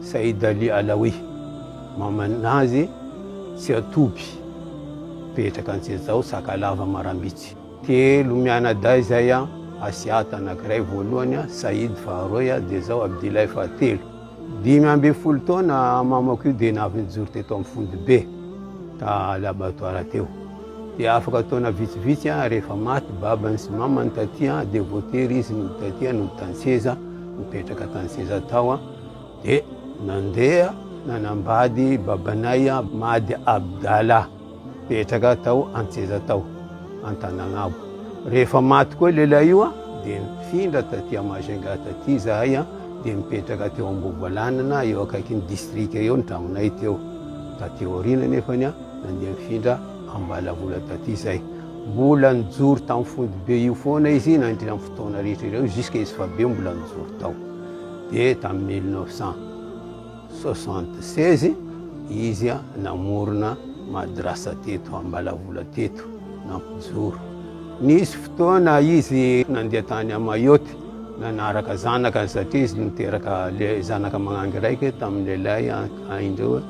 Said Ali Alawi, maman'ny azy tsy hatoby, mipetraka Antsehazao, Sakalava, Marambitsy. Telo mianadahy izay, Asiat anankiray, voalohany, Said faharoy, dia izao, Abdillah fahatelo. Dimy ambin'ny folo taona mamako io dia avy nijoro teto amin'ny fondobe, ta laboratoire teo. Dia afaka taona vitsivitsy rehefa maty babany sy mamany taty dia voatery izy nody taty nody tan-tseza nipetraka tan-tseza tao dia nandeha nanambady babanay Mady Abdala nipetraka tao an-tseza tao Antanagnabo rehefa maty koa lehilahy io dia nifindra taty Majinga taty izahay dia nipetraka teo Ambovoalanana eo akaikin'ny distrika eo ny tragnonay teo taty aoriana nefany Nandeha nifindra Ambalavola taty izay. Mbola nijoro tamin'ny fondobe io foana izy nandritra ny fotoana rehetra ireo jusque izy fabe mbola nijoro tao. Dia tamin'ny 1976 izy namorona madrasa teto Ambalavola teto nampijoro. Nisy fotoana izy nandeha tany Mayotte nanaraka zanaka satria izy niteraka zanaka magnangy raika tamin'ny lehilahy ahin-dreo.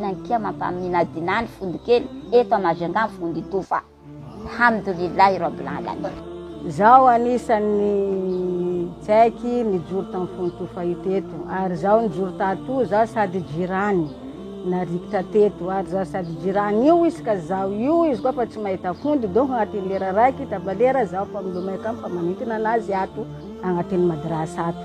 Nankeo mampaminadina ny fody kely eto à Majunga ny fody toa fa Alhamdoulillahi Rabbil Alamin. Izaho anisan'ny tsaiky nijoro tamin'ny fony toa fahita eto ary izaho nijoro tatoa izaho sady jirany narikitra teto ary izaho sady jirany io izy ka izaho io izy koa fa tsy mahita fody donc agnatin'ny lera raiky tapa lera izaho fa milomay kamo fa manintona anazy ato agnatin'ny madrasa ato.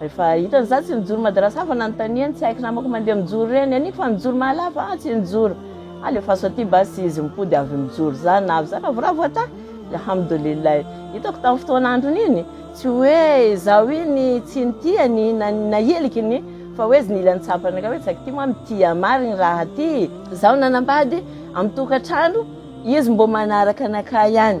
Rehefa hitany za tsy nijoro madrasa aho fa nanontaniany tsy haiko namako mandeha mijoro ireny aniko fa nijoro mahalava aho tsy nijoro alefaso aty basy izy mipody avy mijoro za navy za ravoravo atahy alhamdoulillahi hitako tam fotoana androny iny tsy hoe izaho iny tsy nitiany na na hiliky ny fa hoe izy nila nitsapany nga hoe zaka ty moa mitia marigny raha ty zaho nanambady am tokatrano izy mbo manaraka anakahy any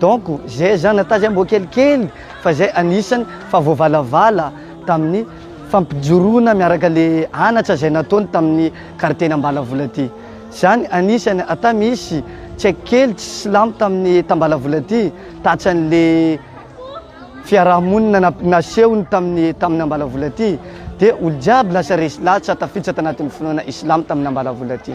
Donc zay zany ata zay mbo kelikely fa zay anisany fa voavalavala taminy fampijoroana miaraka le anatra zay nataony taminy karteny ambalavola ty zany anisany ata misy tsaiky kely tsy silamo taminy tambalavola ty tatsany le fiarahamonina nasehony taminy taminy ambalavola ty de olo jiaby lasa resy latsa tafiditra tanatiny finoana islamo taminy ambalavola ty.